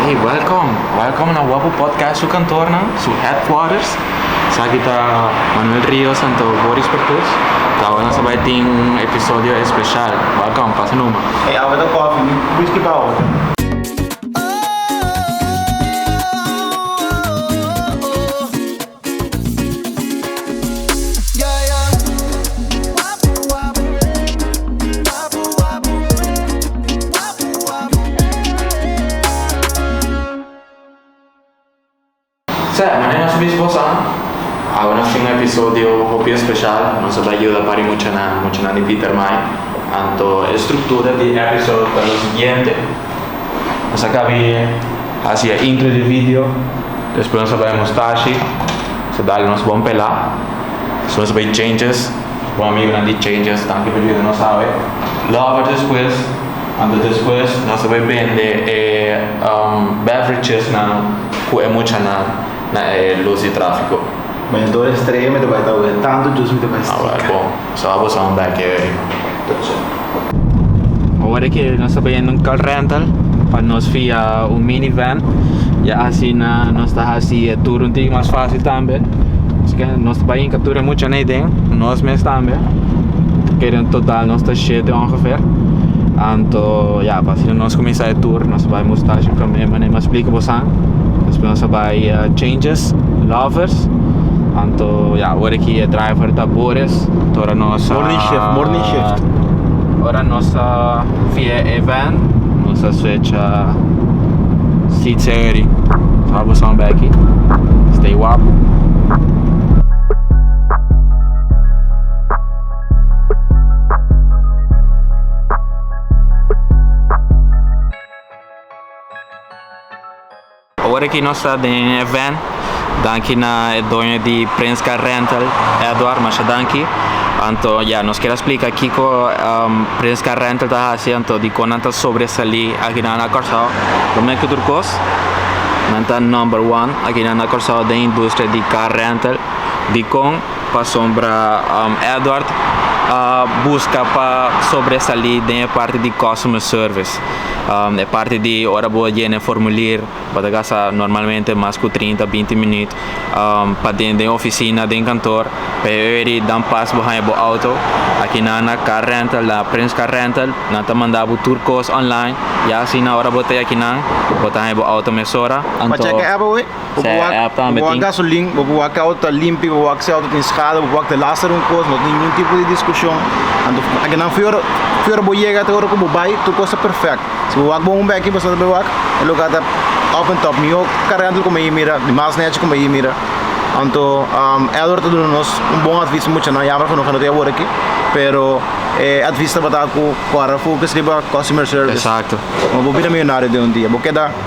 Hey, welcome. Welcome na Wapu Podcast su kantornan, su headquarters. Saki ta Manuel Rios en to Boris Pertus. Tawa na sabai tin un episodio especial. Welcome, pasa numa. Hey, awa ta koffie, mi whisky pa awa. Sea, mane nos mismo sa, awe nos tin un episodio hopi especial, nos a bay yuda pari muchanan, muchanan di Pietermaai, anto e structura di episode ta lo siguiente. Nos a kabi hasi e intro di video, despues nos a bai nos tashi, nos a dal nos bon pela, despues nos a bai changes, nos bon amigunan di changes, tanki por yuda nos awe. Lover despues, anto despues nos a bai bende e beverechesnan ku e muchanan na e lus di trafiko. Bai na tur estrella mi ta bai ta oe, tantu jus mi ta bai stica. So a boso un bek e Bo worde ke nos ta bayendo un car rental pa nos fia un mini van. Ya asina nos ta hasi e tur un tiki mas fácil tambe. Asike nos ta bayen ka tur e mucha nei den, nos mes tambe. Kere en total nos ta shete ongeveer. Anto ya pa asina nos kuminsá e tur. Nos ta bai Moustache promé manera mi a splika bosan. Despues nos ta bai Changes, Lovers. Anto ya Awor aki e driver ta bures ora nos a. Morning shift, morning shift. Ora nos a via e van, nos a switcha seats eri. So abo son beki. Stay wapu. Awor aki nos ta den e event, danki na e doño di Prince Car Rental, Edward, masha danki. Anto ya, nos kier a splika kiko Prince Car Rental ta hasi, anto dikon nan ta sobresalí akinan na Kòrsou. Promé ku tur kos, nan ta number one akinan na Kòrsou den industria di car rental. Dikon? Pasobra Edward a buska pa sobresalí den e parti di customer service. Um e parti di ora bo a yena e formulier bo ta gasta normalmente mas ku trinta, binti minuut um pa den den ofisina, den kantoor pa e wer di dan pas bo haña bo outo. Akinan na Car Rental, na Prince Car Rental nan ta manda bo tur kos online. Ya asina ora bo ta e akinan bo ta haña bo outo mesora. Anto. Bo por wak, app tambe bo wak gasolin, bo por wak auto limpi, bo wak auto tin schade, bo wak de laster un kos, no tin ningun tipo di diskushon. Anto aki nan fior fior bo yega ta ora ku bo bai, tur kos ta perfect. Si bo wak bon un beki pasado bo wak, e lugar ta up en top. Miho karga anto di komo e mira, di mas nechi komo e mira. Anto Edward ta duna nos un bon advis mucha nan, yamber ku no ta awor aki, pero e advis tabata ku kora fokus riba customer service, bo bira millonario den un dia. Bo keda.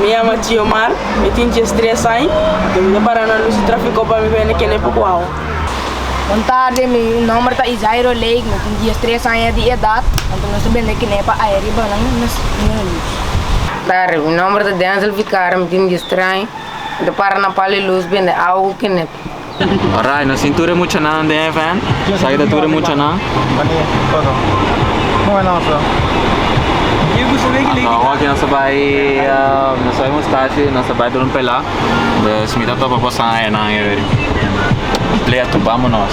Mi yama Giomar, mi tin dies tres añ. Mi bin a para na lus di trafico pa mi bini na kende pokuahu. Un tarde, mi nomber ta Isairo Lake, mi tin dies tres aña di edat, anto nos a bende kende pa aya riba nan na Sino Luz. Tarde, mi nomber ta Denzel Vicario, mi tin dies tres añ, mi ta para na pal di lus bende awa ku kende. Alright, nos tin tur e muchanan den e van. Sa ki ta tur e muchanan? Mani, foto. Mo bai nos lo. Aho aki nos a bai, um, nos a bai mustashi, nos a bai dor un pelá. Dus mi ta topa bosan ayanan, e weri. Play a tupamo nos.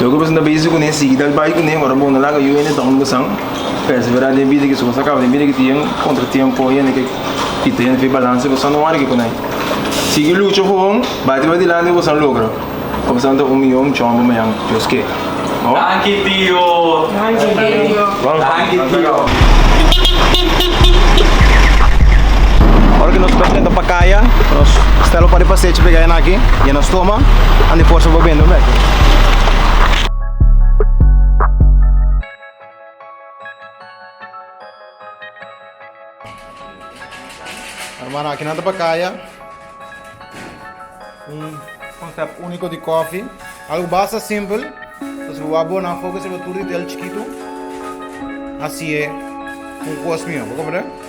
Lo ke pasobra ta bisti ku ne sigui dal bai ku ne ora bo na laga yu hende ta hungasan p'es bera den bida ke su kos a kaba den bida ke tin kontratiempo hende ke kita hende fi balanse bo san no wari ke ku nai sigui lucha for hon bai te bai dilanti bo san logra o bo san ta un miyon chombo mañan Dios kere. Ora ki nos presenta pa kaya nos stèl opa riba sechi pega enan i nos toma and depòs a bobende un bèk. Hermano aki nan ta pa kaya. Un konsèpt úniko di kòfi. Algu basta simpel. Pasobra bo a bo na fokus riba tur detail chikitu. Asi e un kos mio. Bo komprende?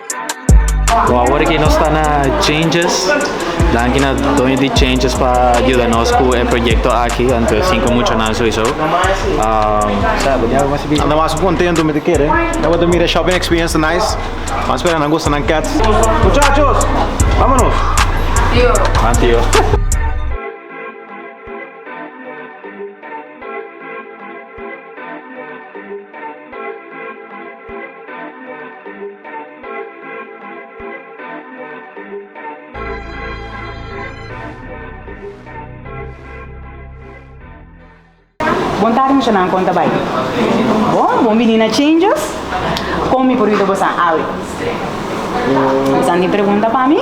Bon awor aki nos ta na Changes. Danki na doño di Changes pa yuda nos ku e proyekto aki, anto sinku muchanan souiso. Nan ta mas kontentu mi ta kere. Nan bo ta mira e shopping experience ta nice. Bo a spera nan gusta nan cats. Muchachos, vámonos! Nan tio. Bon tardi muchanan konta bai bon bon bini na changes kon mi por bida bosan awe bosan tin pregunta pa mi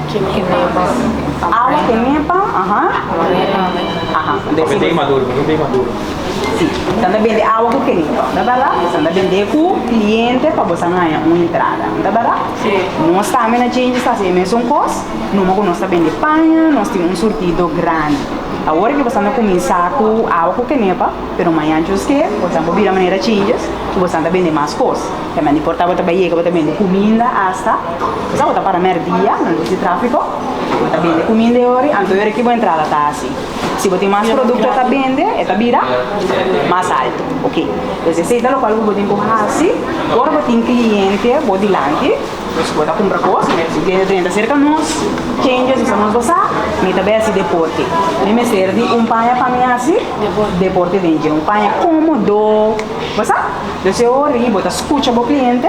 Awa ku nepa, aha. Papia dei maduro, mihun dei maduro. Sí, esnan ta bende awa ku kenepa, no ta bera? Esnan ta bende ku kliente pa boso a ngaña un entrada, no ta bera? Sí. Nos tambe na Djinjis ta hasi e mesun kos, numa ku nos ta bende paña, nos tin un surtido grandi. Awor ke boso na kuminsá ku awa ku kenepa, pero maña djus ke boso a por bira manera Djinjis i boso a bende mas kos. E mende por ta bo ta bai yega bo ta bende kuminda asta esaki bo ta para mèrdia nan disi trafiko bo ta bende kuminda e ora y anto e ora ki bo entrada ta hasi si bo tin mas produkto ta bende e ta bira mas alto ok entonces esey ta lokual ku bo tin ku hasi ora bo tin kliente bo dilanti pues bo ta kumpra kos mira si kliente ta yenta serka nos chenges esaki nos ta sa mi ta bai hasi deporte mi mester di un paña pa mi hasi deporte den dje un paña komodo bo sa. Des e ora i bo ta skucha bo kliente,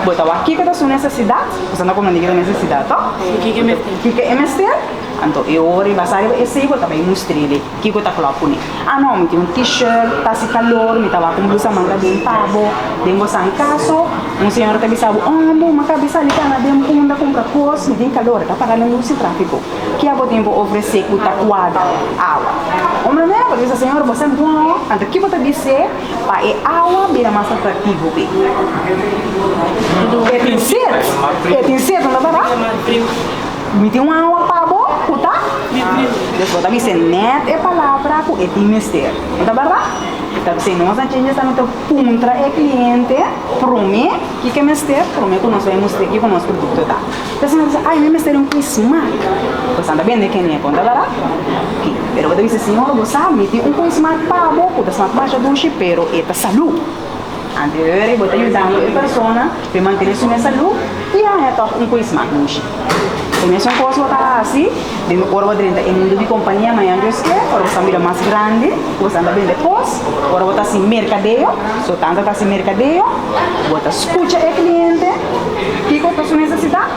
bo ta wak kiko ta su nesesidat, bo sa no kome nigera nesesidat to, kiko e mester, anto e ora i basa riba esei bo ta bai mustri lei kiko ta klòp ku mi, a no mi tin un t-shirt ta hasi kalor mi ta wak un blusa manga bien pa bo, den bo san kaso un señora ta bisa bo oh bo maka bisa di ta na den punda kumpra kos mi tin kalor e ta paga na lus i trafiko, ke bo tin pa ofrese ku ta kuadra? Awa un manera bo ta bisa señor bo sa ngòò, anto ke bo ta bis'é? pa e awa bira mas atraktivo p'e. E tin set, e tin set, no ta bera? Mi tin un awa pa bo ku ta Des bo ta bis'e nèt e palabra ku e tin mester, no ta bera? Ta bis'e nos a jinja sa no ta puntra e kliente promé kiko e mester, promé ku nos bai mustra e kiko nos produkto ta. Entonces mi bisa, ay, mi mester un quizmat. Pues anda bende kende a konta barat. Oke. Pero bo ta bisa, Siñor, bo sa mi tin un quizmat pa bo ku ta snap masha dushi, pero e ta salú. Ante bo weri bo ta yudando e persona pa e mantene su mes salú, i bo haña tòg un quizmat dushi. E mesun kos bo ta hasi den ora bo drenta e mundu di kompania, mañan Dios ke, ora bo sta un bida mas grandi. Bo sa ta bende kos, ora bo ta hasi merkadeo, so tanta ta hasi merkadeo, bo ta skucha e kliente, kiko ta su nesesidat,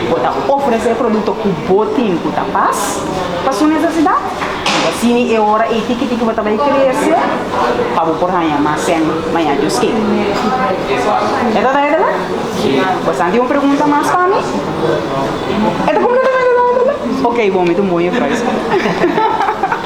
bo ta ofresé e produkto ku bo tin ku ta pas pa su nesesidat, i asina e ora ei tiki tiki bo ta bai krese pa bo por haña mas sèn mañana Dios ken. E ta duidelijk? Bo sa tin un pregunta mas pa mi? E ta kompletamente duidelijk? Oké bon, mi ta un bon jefrouske.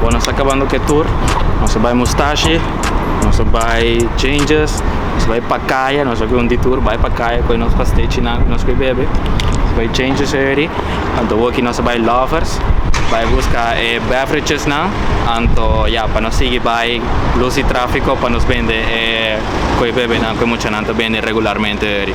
Bon nos ta acabando cu e tour nos ta bay mustashi nos ta bay changes nos ta bay pa caya nos hopi un detour bay pa caya coge nos paste chinan cu nos ke bebe nos ta bay changes eyori anto awor nos ta bay lovers bay busca e beverages nan anto ya pa nos sigi bay luz y trafico pa nos bende e cu e bebenan cu e muchanan ta bende regularmente.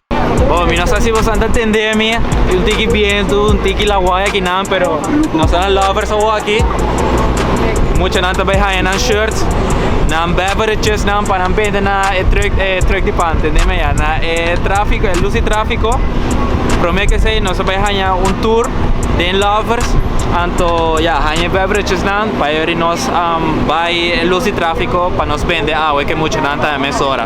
Oh, mi no sa si bosan ta tende a mi y un tiki bientu, un tiki la waya ki nan, pero no sa na lovers awo aki. Mucha nan ta bay haya nan shirts, nan beverages nan pa nan bende na e truck, e truck di pan, tende mi ya, na e trafiko, e lus di trafiko. Prome ke say no sa bay haya un tour den lovers, anto ya, haya e beverages nan pa yori nos am bay e lus di trafiko pa nos bende awe ke mucha nan ta mesora.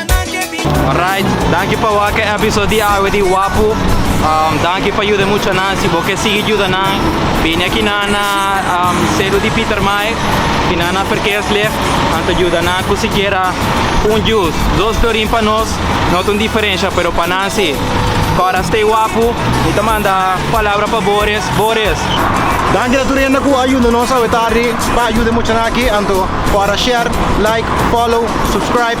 Alright, danki pa wak e episode di awe di Wapu. Um, danki pa yuda mucha nan. Si bo ke sigui yuda nan, bini aki nan na um, selu di Peter Mai, ki nan na verkeerslicht, anto yuda nan ku sikiera un juice, dos klorin pa nos, no ta un diferensha, pero pa nan si. Kora, stay wapu. Mi ta manda palabra pa Boris. Boris, Danki na tur hende ku a yuda nos awe tardi pa yuda mucha nan aki. Anto kora share, like, follow, subscribe.